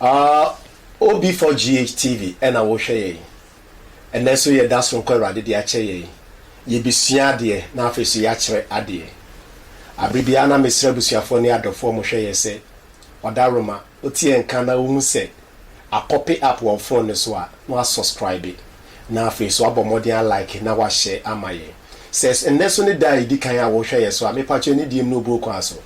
Aah OB4GH TV ɛna wohwɛ yɛn. Ɛnɛ nso yɛda soronko Awurade de akyɛ yɛn. Yɛbɛsua adeɛ na afei nso yɛakyerɛ adeɛ. Aberɛ biara na mesrɛ abusuafoɔ ne adɔfoɔ a wɔhwɛ yɛn sɛ, Ɔdawuroma, wote yɛn nka na wohu sɛ akɔpe app wɔ wo phone no so a, na woasɔskraibe. Na afei nso woabɔ mmɔden alike na woahyɛ ama yɛn. Sɛ ɛnnɛ nso ne da a ɛdi kan a wohwɛ yɛn so a, mepatwɛ anidie mu na obuo kwan so.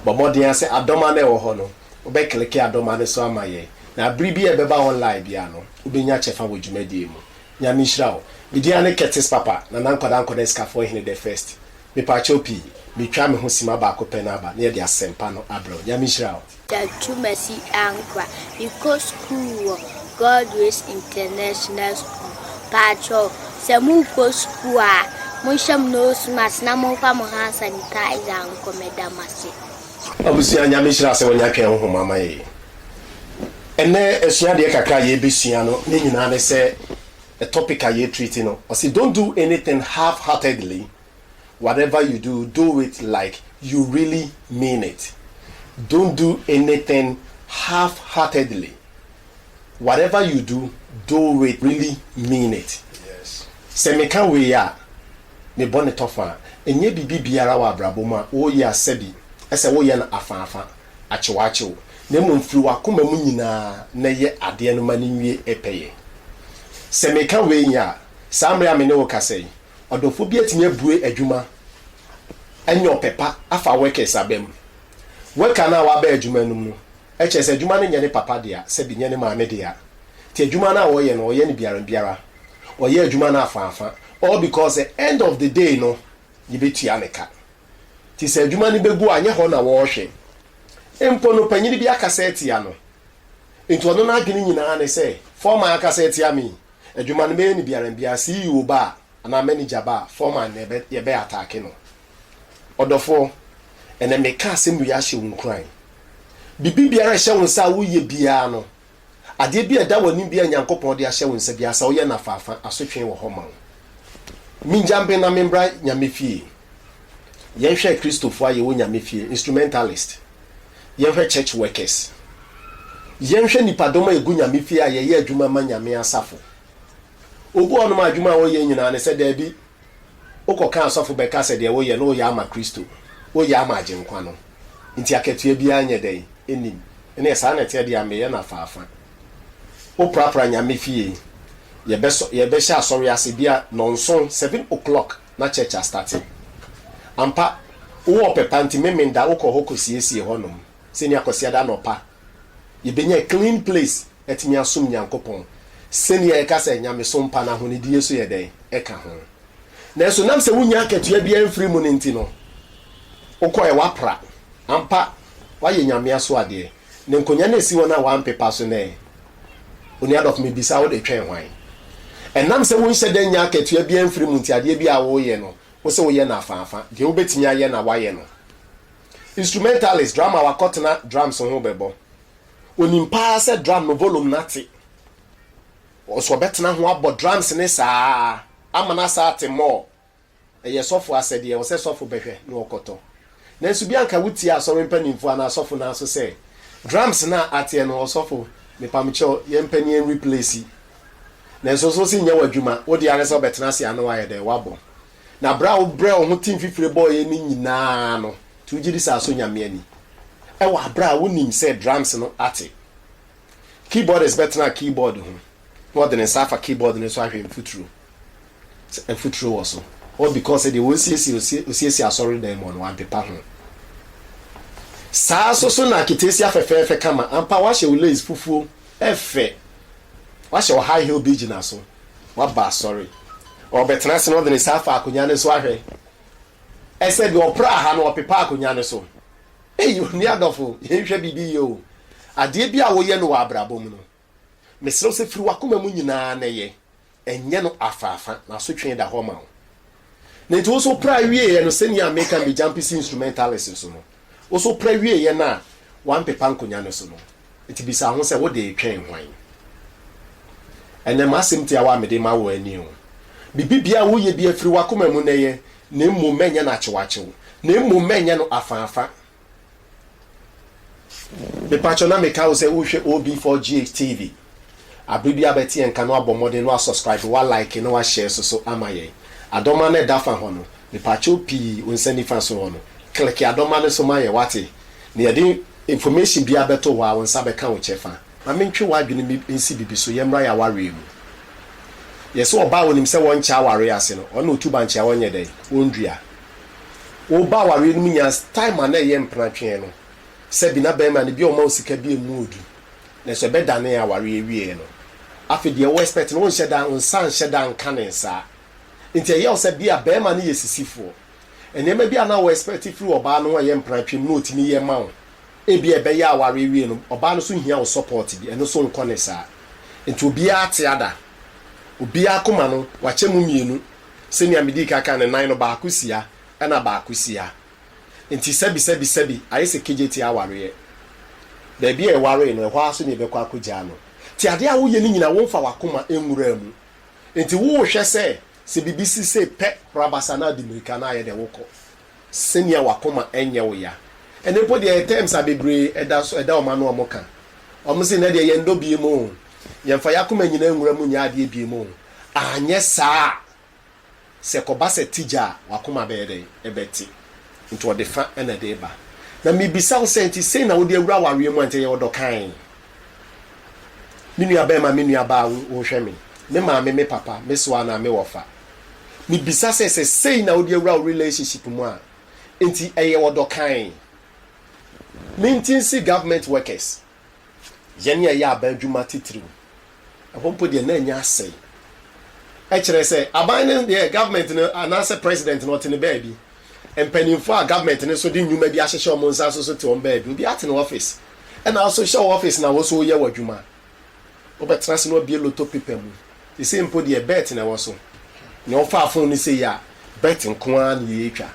Bɔ mmɔden ara sɛ adɔm ara na ɛwɔ hɔ no. Wobɛkleke adɔma no so ama yɛn, na bere bi a ɛbɛba online biara no, wobɛnya kyɛfa wɔ dwumadie mu. Nyame nhyira wo. Me din ane Curtis Papa, Nana Nkwadaa Nkwadaa Sikafoɔ Hene the First. Mepakyɛw pii, metwaa me ho sima baako pɛ na aba na yɛde asɛmpa no abrɛ wo. Nyame nhyira wo. Da Twumasi Ankwa, mekɔ sukuu wɔ God Ways International School. Paatwɔɔ, sɛ morekɔ sukuu a, monhyɛ mo nose mask na momfa mo hand sanitizer nkɔ. Meda mo ase. Abusua Nyame nhyira sɛ wanya twɛn honhom ama yɛn. Ɛnnɛ asuadeɛ kakra a yɛbɛsua no ne nyinaa ne sɛ topic a yɛ treat no ɔse don't do anything half heartedly whatever you do do it like you really mean it don't do anything half heartedly whatever you do do it really mean it sɛ meka wei a ne bɔne tɔ fã. Nyɛ biribi biara wɔ abrabɔ mu a woreyɛ a sɛbi sɛ woreyɛ no afã afã, akyewakyew, na mmom firi w'akoma mu nyinaa na yɛ adeɛ no ma no nwie pɛyɛ. Sɛ meka wei a, saa mmerɛ a me ne wo rekasa yi, ɔdɔfoɔ bi atumi abue adwuma anya ɔpɛ pa afa workers aba mu. Worker no a waba adwuma no mu no, kyerɛ sɛ adwuma no nyɛ ne papa dea, sɛbi nyɛ ne maame dea, nti adwuma no a ɔreyɛ no ɔyɛ no biara biara. ɔyɛ adwuma no afaafa all because sɛ end of the day no yɛbɛtua ne ka nti sɛ adwuma no bɛgu a nyɛ hɔ na wɔrehwɛ mpo no panyini bi akasa atia no nti ɔno no adwene nyinaa ne sɛ foreman akasa atia me adwuma no mɛyɛ ne biara biara CEO ba a anaa manager ba a foreman na yɛbɛ yɛbɛ ataake no ɔdɔfoɔ ɛnɛ meka asɛm wei ahyɛ wo nkuran bibi biara ɛhyɛ wo nsa a woyɛ biara no Adeɛ bi a ɛda w'anim bi a Nyankopɔn de ahyɛ wo nsa biara, sɛ woyɛ no afaafa a, asotwee wɔ hɔ ma wo. Mingya mben na membra Nyame fie. Yɛnhwɛ Kristofoɔ a yɛwɔ Nyame fie, instrumentalist. Yɛnhwɛ church workers. Yɛnhwɛ nnipadɔm a yɛgu Nyame fie a yɛyɛ adwuma ma Nyame asafo. Obi wɔ hɔnom a adwuma a ɔyɛ nyinaa ne sɛ, Daabi, Wokɔka asɔfo bɛka sɛ deɛ woyɛ no woyɛ ama Kristo, woyɛ ama Agyenkwa no, nti akatua biara nyɛ dɛn? Nnim. Ɛneɛ saa na ɛteɛ deɛ a meyɛ no afaafa. Woprapra Nyame fie, yɛbɛsɔ yɛbɛhyɛ asɔre ase bia nɔnson, seven o'clock na church astate. Ampa, wowɔ ɔpɛ pa nti Memeneda wokɔ hɔ kɔsiesie hɔnom, sɛnea Kwasiada anɔpa, yɛbɛnya clean place atumi asom Nyankopɔn sɛnea yɛka sɛ nyamesom pa no ahonidie so yɛ dɛn ka ho. Nanso nam sɛ wonnya akatua biara mfiri mu no nti no, wokɔɛ woapra. Ampa, woayɛ nyame asoadeɛ. Ne nkonya na ɛsi hɔ no a woampepa so nnɛ. Onua Duff, mebisa wo, wode twɛn hwan? Ɛnam sɛ wonhyɛ da nnya akatua biara mfiri mu nti, adeɛ biara a woreyɛ no, wose woyɛ no afaafa. Deɛ wobɛtumi ayɛ na woayɛ no. Instrumentalist, drummer, wakɔtena drums ho bɛbɔ. Onim paa sɛ drum no volume no ate. Ɔso ɔbɛtena ho abɔ drums no saa ama no asan ate more. Ɛyɛ sɔfo asɛdeɛ, ɛwɔ sɛ sɔfo bɛhwɛ na ɔkɔtɔ. Nanso bi a anka wotie asɔre mpanimfoɔ anaa asɔfo no aso sɛ, Drums no a ateɛ no, ɔsɔfo, mepamkyɛ wo, yɛmpɛ na yɛn replace. Nanso nso se nyɛ w'adwuma, wo deɛ ara ne sɛ wobɛtena ase a na woayɛ dɛn? Woabɔ. Na berɛ a wobrɛɛ wo ho tim fifire bɔeɛ no nyina ara no, nti wogye di sɛ asɔ Nyame ani wɔ aberɛ a wonim sɛ drums no ate? Keyboardist bɛtena keyboard ho na ɔde ne nsa afa keyboard no so ahwɛ mfuturo sɛ mfuturo wɔ so all because sɛ deɛ wɔresiesie osiesie asɔredan mu hɔ no wampepa ho. Saa nso so na Aketesia fɛfɛɛfɛ kama ampa, woahyɛ wo lace fufuo, ɛfɛ, woahyɛ wo high heel bi gyina so. Waba asɔre. Ɔrebɛtena ase na ɔde ne nsa afa akonnwa no so ahwɛ. Ɛsɛ deɛ ɔpraa ha no, ɔpepa akonnwa no so. Ei, onua adɔfo, yɛnhwɛ biribi yie o. Adeɛ bi a woyɛ no wɔ abrabɔ mu no, mesrɛ wo sɛ firi w'akoma mu nyinaa na yɛ. Ɛnyɛ no afaafa, na asotwee da hɔ ma wo. Na enti wo nso pra wieɛ no sɛnea meka me Jampisi instrumentalist nso no, wo nso pra wieɛ no a wampepa nkonya no so no, enti bisa ho sɛ wo de retwɛn hwan? Ɛnɛ m'asɛm tiawa a mede rema wo ara nie o, Biribibiara a woyɛ biara firi w'akoma mu na yɛ, na mmom mɛnyɛ no akyewakyew, na mmom mɛnyɛ no afã afã. Mepakyɛw na meka wo sɛ wohwɛ OB4GH TV. Abre bi a bɛte yɛn nka no abɔ mmɔden na wa subscribe, wa like na wa share so so ama yɛn. Adɔma no a ɛda fa hɔ no, mepakyɛw pii wo nsa nifa so hɔ no, click adɔma no so ma yɛn wate? Na yɛde information biara bɛto hɔ a wo nsa bɛka wo kyɛfa. Ma mentwe w'adwene mi nsi bibi so, yɛmmra y'awareɛ mu. Yɛse ɔbaa a onim sɛ wɔnkyɛ awareɛ ase no, ɔno na otu bankye a ɔnyɛ dɛn? Ɔndua. Wo ba awareɛ no mu nya time a na ɛyɛ mpena twee no sɛ bi na bɛɛma no bi a ɔma wo sika bi ɛmu ɔdu nanso ɛbɛdanee awareɛ wieɛ no afei deɛ wo expect no wo nhyɛ da wo nsa nhyɛ da nka ne nsaa nti ɛyɛ wo sɛ bi a bɛɛma no yɛ sisifoɔ nneɛma bi a na wo expect firi ɔbaa no ho a ɛyɛ mpena twee mu na ɔtumi yɛ ma wo ebi a ɛbɛyɛ awareɛ wieɛ no ɔbaa no so hia wo support bi ɛno so nkɔ ne saa nti obiara ate ada obiara koma no wakyɛ mu mmienu Sɛnea midii kan kae no, nan no baako si ha ɛnna baako si ha. Enti sɛbisɛbisɛbi, ayɛ sɛ Kejetie awareɛ. Baabi a ɛwaree no, ɛhɔ ara nso na yɛbɛkɔ akɔgyaa no. Nti adeɛ a woyɛ no nyinaa, womfa w'akoma nwuraa mu. Enti worehwɛ sɛ, sɛ biribi si sei pɛ, rabasa na di mmirika na ayɛ dɛ wokɔ. Sɛnea w'akoma nyɛ wo ya. Ɛnnɛ mpo deɛ, terms a bebree ɛda so, ɛda wɔn ano a wɔka. Wɔse, Nnɛ deɛ, yɛnnɔ biom o. Yɛmfa yɛn akoma nyinaa nwura mu nyɛ adeɛ biom o. Anyɛ saa a, sɛ ɛkɔba sɛ te gya a, w'akoma bɛyɛ dɛn? Ɛbɛte. Enti ɔde fã na ɛde reba. Na mibisa wo sɛ, enti sei na wode awura awareɛ mu a, enti ɛyɛ ɔdɔ kann? Me nuabarima, me nuabaa, wohwɛ me, me maame, me papa, me soa anaa me wɔfa? Mibisa sɛ, sɛ sei na wode awura wo relationship mu a, enti ɛyɛ ɔdɔ kann? Mentinsi government workers yɛn yɛyɛ aban adwuma atitiriw. Ɛhɔ mpo deɛ na anya asɛe. Ɛkyerɛ sɛ aban no deɛ government no anaasɛ president no ɔte ne baabi. Mpanimfoɔ a government no so de nnwuma bi ahyehyɛ wɔn nsa nso so te wɔn baabi. Obiara te ne office. Ɛna wo nso hyɛ wo office na wo nso woyɛ w'adwuma. Wobɛtena ase na woabue loto paper mu. Sesei mpo deɛ Bert na ɛwɔ so. Nea ɔfaa fon no sei a, Bert nko ara na yɛretwa.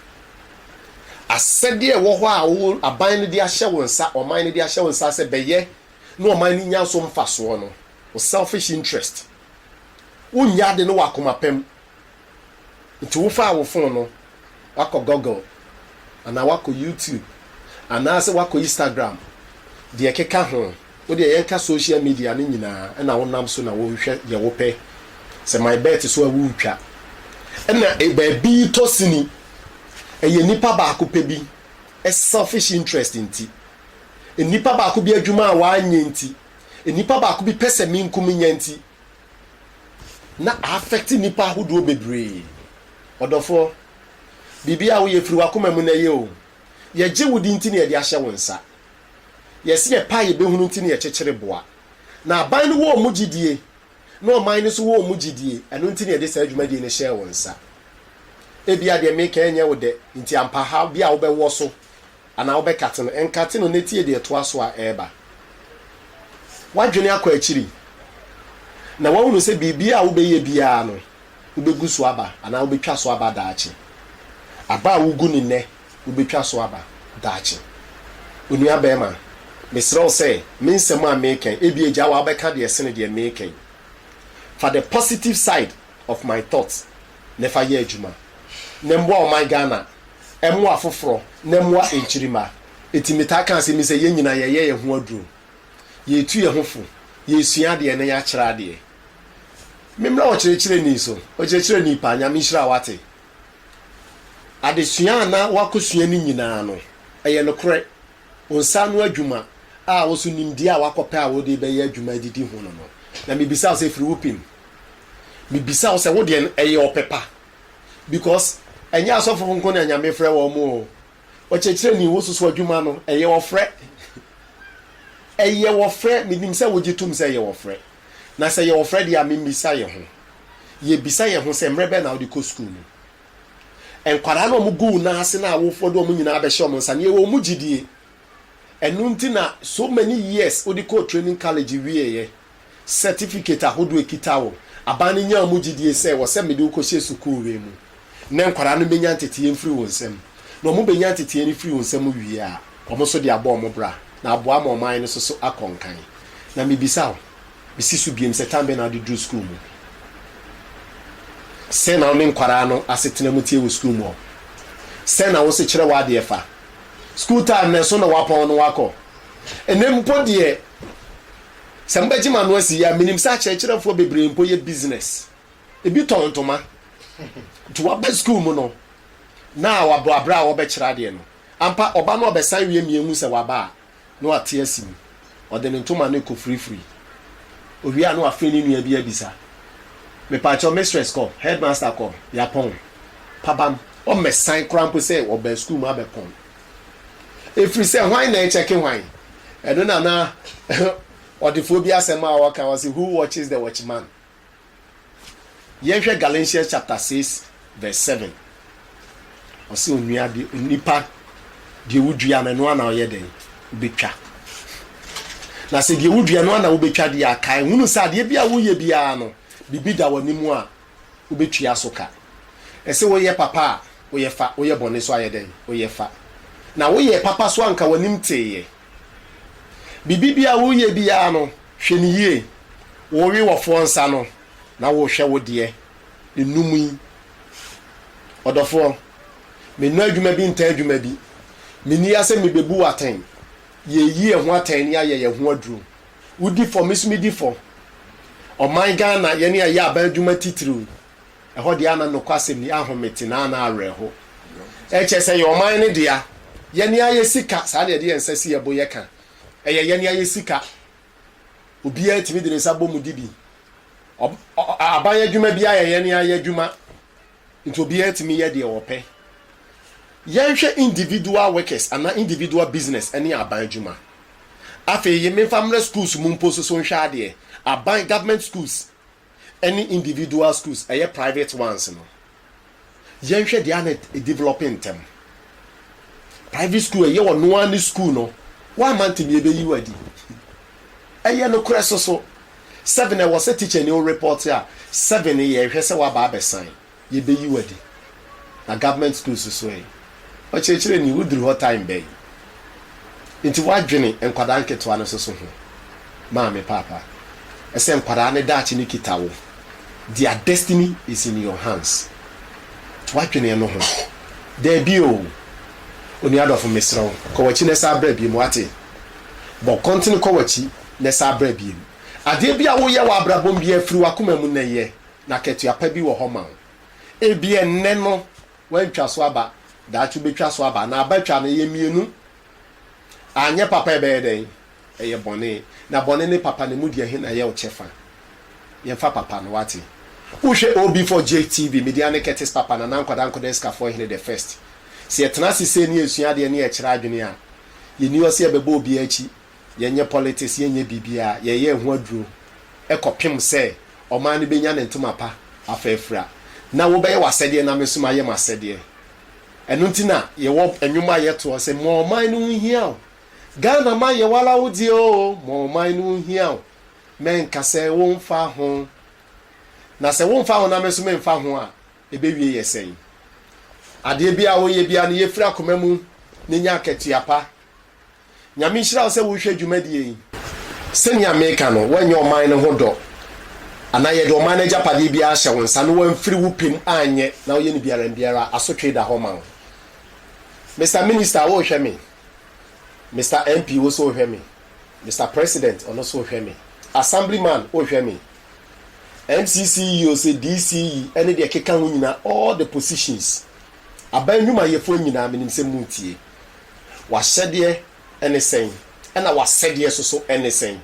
Asɛdeɛ a ɛwɔ hɔ a wo aban no de ahyɛ wo nsa, ɔman no de ahyɛ wo nsa sɛ bɛyɛ na ɔman no nya so mfasoɔ no, wo selfish interest. Wonyɛ ade no wɔ akoma pa mu. Nti wofaa wo fon no wakɔ Google anaa wakɔ YouTube anaasɛ wakɔ Instagram deɛ ɛkeka ho, wodeɛ yɛnka social media no nyinaa ɛna wonam so na wohwɛ deɛ wopɛ, sɛ my bet so a woretwa. Ɛna baabi tɔ sini, ɛyɛ nipa baako pɛ bi selfish interest nti, nipa baako bi adwuma a wanyɛ nti, nipa baako bi pɛsɛmenkominya nti na a-affect nnipa ahodoɔ bebree. Ɔdɔfoɔ, biribiara a woyɛ firi w'akoma mu na ɛyɛ o. Yɛgye wo di nti na yɛde ahyɛ wo nsa. Yɛse yɛpɛ a yɛbɛhunu nti na yɛkyekyere boa. Na aban no wɔ wɔn gyidie, na ɔman no nso wɔ wɔn gyidie, ɛno nti na yɛde saa dwumadie no hyɛɛ wo nsa. Ebia deɛ meka yi nyɛ wo dɛ, nti ampa ha bi a wobɛwɔ so Anaa wobɛkate no? Nkate no na tie deɛ ɛtoa so a ɛreba. Woadwene akɔ akyiri, na woahunu sɛ biribiara a wobɛyɛ biara no, wobɛgu so aba anaa wobɛtwa so aba daakye. Aba a wogu no nnɛ, wobɛtwa so aba daakye. Onua barima, mesrɛ wo sɛ, me nsɛm a mereka yi, ebia agya wo a wobɛka deɛ ɛsene deɛ mereka yi. Fa the positive side of my thoughts na ɛfa yɛ adwuma na ɛmmoa ɔman Ghana, ɛmmoa afoforɔ na ɛmmoa nkyirimma. Enti metaa ka asɛm yi sɛ yɛn nyinaa yɛyɛ yɛn ho aduro, yɛretu yɛn ho fo, yɛresua adeɛ na yɛakyerɛ adeɛ. Memmra ɔkyerɛkyerɛni so, ɔkyerɛkyerɛni paa, Nyame nhyira wo wate. Adesua a na woakɔsua no nyinaa no, ɛyɛ nokorɛ, wo nsa ano adwuma a wo nso nimdeɛ a woakɔpɛ a wode rebɛyɛ adwuma adidi ho no no, na mebisa wo sɛ ɛfiri wo pem? Me bisa wo sɛ wo deɛ no ɛyɛ ɔpɛ pa? Because ɛnyɛ asɔfo nko na Nyame frɛ wɔn o. Ɔkyerɛkyerɛni wo soso adwuma no ɛyɛ ɔfrɛ. Ɛyɛ ɔfrɛ, me nim sɛ wo gye tom sɛ ɛyɛ ɔfrɛ. Na sɛ ɛyɛ ɔfrɛ deɛ a me mmisa yɛ ho. Yɛ bisa yɛ ho sɛ mmerɛ bɛn na wo de kɔ school mu? Nkwadaa no a wɔn gu wo nan ase no a wo de wɔn nyinaa bɛhyɛ wɔn nsa no yɛ wɔn gyidie. Ɛno nti na so many years wo de kɔɔ training college wieɛ. Sɛtifikate ahodoɔ ekita wo. Aban no nyaa wɔn gyidie sɛ wɔ sɛ mede wo kɔhyɛ sukuu wei mu ne nkwadaa no bɛnya nteteeɛ mfiri wo nsam. Na wɔn bɛnya nteteeɛ no firi wo nsam wie a, wɔn nso de abɔ wɔn bra na aboa ama ɔman no so so akɔ nkan. Na mebisa wo, mesi so biom sɛ tan bɛn na wode duru sukuu mu? Sɛn na wo ne nkwadaa no asetena mu teɛ wɔ sukuu mu hɔ? Sɛn na wo nso kyerɛ w'adeɛ fa? Sukuu time no ɛso na wapɔn no wakɔ. Ɛnnɛ mpo deɛ. Sɛ mobɛgye m'ano asi yi a, menim sɛ akyerɛkyerɛfoɔ bebree mpo yɛ business. Ebi tɔn ntoma. Nti waba sukuu mu no, na wabɔ aberɛ a wɔbɛkyerɛ adeɛ no. Ampa, ɔba no ɔbɛsan wie mia hu sɛ waba a, na wate asi mu. Ɔde ne ntoma no kɔfurifuri. Ɔwie a na wafrɛ ne nua bi abisa, Mepaakyɛw, mistress kɔ? Headmaster kɔ? Yɛapɔn? Pabam, ɔmmɛsan koraa mpo sɛ ɔbaa sukuu mu abɛpɔn. Ɛfiri sɛ hwan na ɛkyɛke hwan? Ɛno na na ɔdefoɔ bi asɛm a ɔka, ɔse who watches the watchman? Yɛnhwɛ Galatians chapter 6 verse 7. Ɔse onua de, onipa deɛ wodua no, ɛno ana ɔyɛ dɛn? Wobɛtwa. Na sɛ deɛ wodua no ana wobɛtwa deɛ aka, ɛhunu sɛ adeɛ bi a woyɛ biara no, biribi da w'anim a wobetua so ka. Ɛse woyɛ papa a, woyɛ fa, woyɛ bɔne so ayɛ dɛn? Woyɛ fa. Na woyɛɛ papa so anka w'anim teeɛ. Biribi biara a woreyɛ biara no, hwɛ no yie. Wowe wɔfoɔ nsa no, na wohwɛ wo deɛ. Nnum yi, ɔdɔfoɔ, mennɔ adwuma bi ntaa adwuma bi. Menni ha sɛ mebebu wo atɛn. Yɛreyi yɛn ho atɛn na yɛayɛ yɛn ho aduro. Wodi fɔ, me nso medi fɔ. Ɔman Ghana, yɛne ɛyɛ aban adwuma titiriw. Ɛhɔ deɛ ana nokwasɛm ni, ahomete na ana awerɛho. Ɛkyɛ sɛ ɛyɛ ɔman no dea. Yɛne ara yɛsi ka, saa na yɛde yɛn nsa si yɛn bo yɛka. Ɛyɛ yɛne ara yɛsi ka. Obiara tumi de ne nsa bɔ mu di bi. Ɔ, ɔ, aban adwuma biara yɛ yɛne ara yɛn adwuma. Nti obiara tumi yɛ deɛ ɔpɛ. Yɛnhwɛ individual workers anaa individual business ɛne aban adwuma. Afei yi menfa mmrɛ schools mu mpo nsoso nhwɛ adeɛ. Aban, government schools, ɛne individual schools, ɛyɛ private ones no. Yɛnhwɛ deɛ a na ɛdevelope ntɛm. Private school ɛyɛ ɔno ara ne school no. Woamma ntɛm yi ɛbɛyi wo adi. Ɛyɛ nokorɛ soso seven ɛwɔ sɛ teacher ni wo report a seven no yɛ hwɛ sɛ waba abɛ sign yɛ bɛ yi wo adi na government schools nso ɛyi ɔkyerɛkyerɛ ni wo duru hɔ time bɛn nti wo adwene nkwadaa nketewa no soso ho maame paapa ɛsɛ nkwadaa no daakye no kita wo their destiny is in your hands wo adwene ɛno ho daabi oo onua dɔfo mesrɛ wo kɔ wakyi no ɛsan bra biom wate. Bɔ kɔntene kɔ w'akyi na ɛsa abra biom. Adeɛ bi a woyɛ wɔ abrabɔm biara firi w'akoma mu na ɛyɛ, na akatua pa bi wɔ hɔ ma wo. Ebia ɛnnɛ no woantwa so aba, daakye wobɛtwa so aba, na aba twa no ɛyɛ mmienu. Anyɛ papa a ɛbɛyɛ dɛn? Ɛyɛ bɔne. Na bɔne ne papa no ɛmu deɛ he na ɛyɛ wo kyɛfa? Yɛmfa papa no, woate? Wohwɛ OB4JTV, Midian ne Curtis Papa, Nana Nkwadaa Nkwadaa Asikafoɔ Hene the First. Sɛ yɛtena ase sei na yɛsua adeɛ na yɛkyerɛ adwene a, Yɛnni hɔ sɛ yɛbɛbɔ obiara akyi, yɛnyɛ politics, yɛnyɛ biribiara, yɛyɛ yɛn ho aduro kɔpem sɛ ɔman no bɛnya ne ntoma pa afa afira, na wobɛyɛ w'asɛdeɛ na me nso mayɛ m'asɛdeɛ. Ɛno nti na yɛwɔ nnwom a yɛtoɔ sɛ, ma ɔman no nhia wo, Ghana man yɛwɔ ara wo deɛ o, ma ɔman no nhia wo, mɛnka sɛ womfa ho, na sɛ womfa ho na me nso memfa ho a, Ebewie yɛ sɛn? Adeɛ biara a woyɛ biara no, yɛ firi akoma mu na nya akatua pa. Nyame nhyira wo sɛ wohwɛ dwumadie yi. Sɛnea meka no, woanyɛ ɔman no ho dɔ anaa yɛde ɔman no agyapadeɛ biara ahyɛ wo nsa na woamfiri wo pɛ mu anyɛ na woyɛ no biara mbiara a, asotwee da hɔ ma wo. Mister Minister, wohwɛ me? Mister MP, wo nso wohwɛ me? Mister President, ɔno nso wohwɛ me? Assemblyman, wohwɛ me? NCCEO se DCE ne deɛ ɛkeka ho nyinaa, all the positions, aban nnwumayɛfoɔ nyinaa, menim sɛ moretie. W'ahyɛdeɛ ne sɛn? Ɛna w'asɛdeɛ nso so ne sɛn?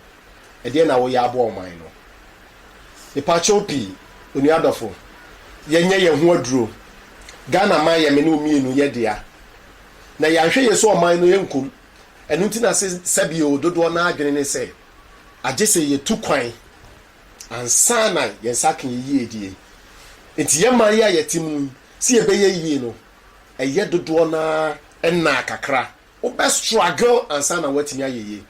Ɛdeɛn na woyɛ aboa ɔman no? Mepakyɛw pii, onua dɔfo, yɛnyɛ yɛn ho aduro. Ghana man yɛ me ne wo mmienu yɛ dea. Na yɛanhwɛ yei so ɔman no yɛnkum. Ɛno nti na se sɛbio dodoɔ no ara adwene ne sɛ agye sɛ yetu kwan ansa na yɛn nsa aka yɛn yiedie. Enti yɛn mmaeɛ a yɛte mu yi, sɛ yɛbɛyɛ yie no, ɛyɛ dodoɔ no ara nnaa kakra. Wobɛ struggle ansa na woatumi ayɛ yie.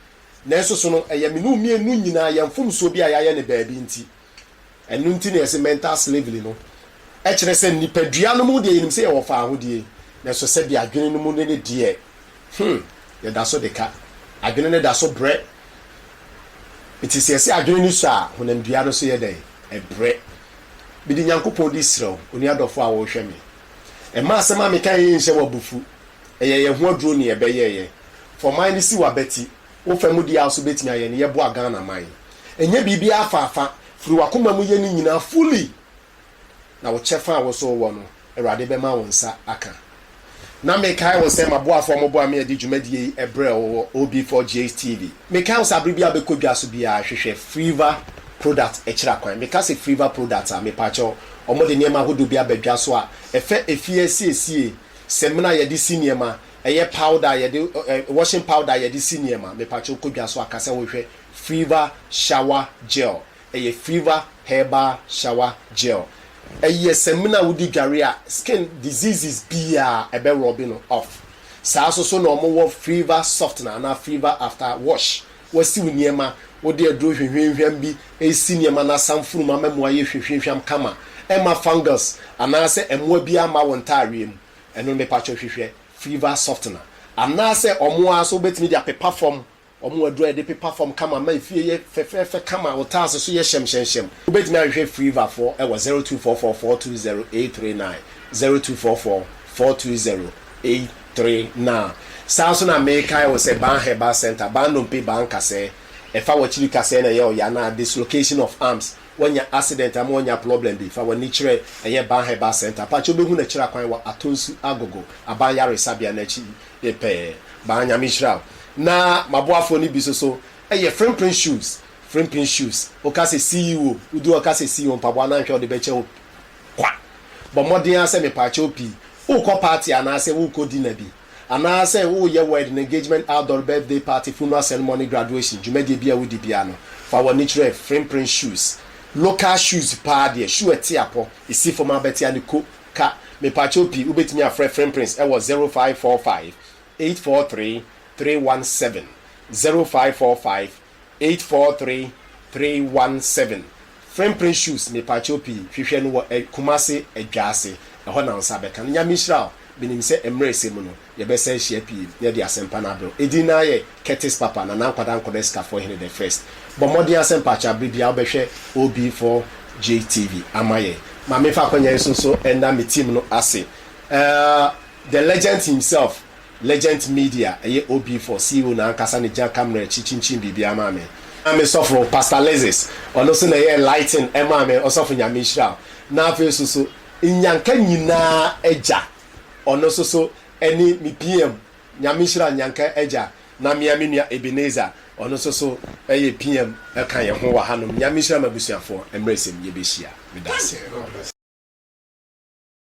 Nanso so no, ɛyɛ me ne wo mmienu nyinaa yɛn mfomsoɔ bi a yɛayɛ no baabi nti, Ɛno nti na yɛse mental slavery no kyerɛ sɛ nipadua no mu deɛ yɛnim sɛ yɛwɔ faahodie nanso sɛdeɛ adwene no mu no ne deɛ hmm yɛda so de ka. Adwene no da so brɛ. Nti sɛ yɛse adwene no sua a, honamdua no nso yɛ dɛn? Ɛbrɛ. Mede Nyankopɔn di srɛ wo, onua dɔfoɔ a worehwɛ me, mma asɛm a mekaeɛ yi nhyɛ wo abufuo. Ɛyɛ yɛn ho aduro na yɛbɛyɛeɛ. Fa wo man no si w'abati Wo fa mu deɛ a nso bɛtumi ayɛ no yɛ boa Ghana man. Ɛnyɛ biribiara afa afa, firi w'akoma mu yɛ ne nyinaa fully na wo kyɛfa a wo nso wowɔ no Awurade bɛma wo nsa aka. Na me kae wo sɛ m'aboafoɔ a wɔboa me adi dwumadie yi ɛberɛ wɔ wɔ OB4GH TV. Me kae wo sɛ aberɛ biara a bɛkɔ dwa so biara hwehwɛ Freeva product ɛkyira kwan. Me ka sɛ Freeva product a mepakyɛw wɔde nneɛma ahodoɔ bi aba dwa so a ɛfa efie asiesie, samina a yɛde si nneɛma, Ɛyɛ powder a yɛde ɛ ɛ washing powder a yɛde si nneɛma. Mepakyɛw kɔ dwa so a ka sɛ wohwɛ Freeva Shower Gel. Ɛyɛ Freeva Herbal Shower Gel. Ɛyɛ samina a wode dware a skin diseases biara ɛbɛ rubbe no off. Saa nso so na wɔwɔ Freeva Softener anaa Freeva After Wash. Wasiw nneɛma, wode aduro hwehwamhwam bi resi nneɛma na asam funum ama mu ayɛ hwehwamhwam kama. Ɛmma fungus anaasɛ mmoa biara mma wo ntaareɛ mu. Ɛno ne patwɔ hwehwɛ fever softener anaasɛ ɔmo ara so wobɛtumi de apepa fam, ɔmo aduro a yɛde pepa fam kama ma efie yɛ fɛfɛɛfɛ kama, wo tiles so yɛ hyɛmhyɛmhyɛm. Wobɛtumi ahwehwɛ fever foɔ wɔ zero two four four four two zero eight three nine, zero two four four four two zero eight three nine. Saa nso na mekae wo sɛ Ban Herbal Centre, Ban Nnompe, Ban Kasɛɛ, ɛfa w'akyiri kasɛɛ na ɛyɛ ɔya na dislocation of arms, Wanya accident ama wanya problem bi fa wani kyerɛ ɛyɛ Ban Herbal Centre pakyɛ wobɛhu no akyiri akwan wɔ Atonsu Agogo aban yaresabea no akyi pɛɛ. Ban Nyame nhyira wo. Na maboafoɔ no bi nso so yɛ Frimprin Shoes, Frimpin Shoes, woka sɛ CEO, wodi hɔ a woka sɛ CEO mpaboa no anhwɛ a wode bɛkyɛ wo kwa. Bɔ mmɔden ara sɛ mepaakyɛw pii, wokɔ party anaasɛ wokɔ dinner bi. Anaa sɛ woreyɛ wed no engagement outdoor birthday party funeral ceremony graduation dwumadie biara a wodi biara no fa w'ani kyerɛ frimprin shoes local shoes paa deɛ shoe ɛte apɔ ɛsi fam abɛtea no ko ka mepakyɛw pii wobɛtumi afrɛ frimprins ɛwɔ zero five four five eight four three three one seven zero five four five Eight four three three one seven Frame print shoes mepakyɛw pii hwehwɛ no wɔ Kumase adwa ase ɛhɔ na wo nsa bɛka no Nyame nhyira wo menim sɛ mmerɛ ɛsɛ mu no yɛbɛsan ahyia pii na yɛde asɛmpa no abrɛ wo Ɛdin no ara yɛ Curtis Papa Nana Nkwadaa Nkɔda Sikafoɔ Hene the first Bɔ mmɔden ara sɛ mpakyɛw aberɛ biara wobɛhwɛ OB4J TV ama yɛn ma memfa akwanya yi so nso nna me team no ase ɛɛɛ The legend himself Legent Media ɛyɛ OB four CEO no ankasa na egya camera akyi kyinkyin biribiara maa me. Na me sɔfo Pastor Lexis ɔno nso na ɛyɛɛ lighting ɛmaa me, ɔsɔfo Nyame nhyira wo. Na afei nso so Nyanka nyinaa agya ɔno nso so ɛne me PM, Nyame nhyira Nyanka agya. Na mea me nua Ebenezer ɔno nso so ɛyɛ PM ɛka yɛn ho wɔ hanom. Nyame nhyira m'abusuafoɔ, mmerɛ sɛm yɛbɛhyia. Meda aseɛ.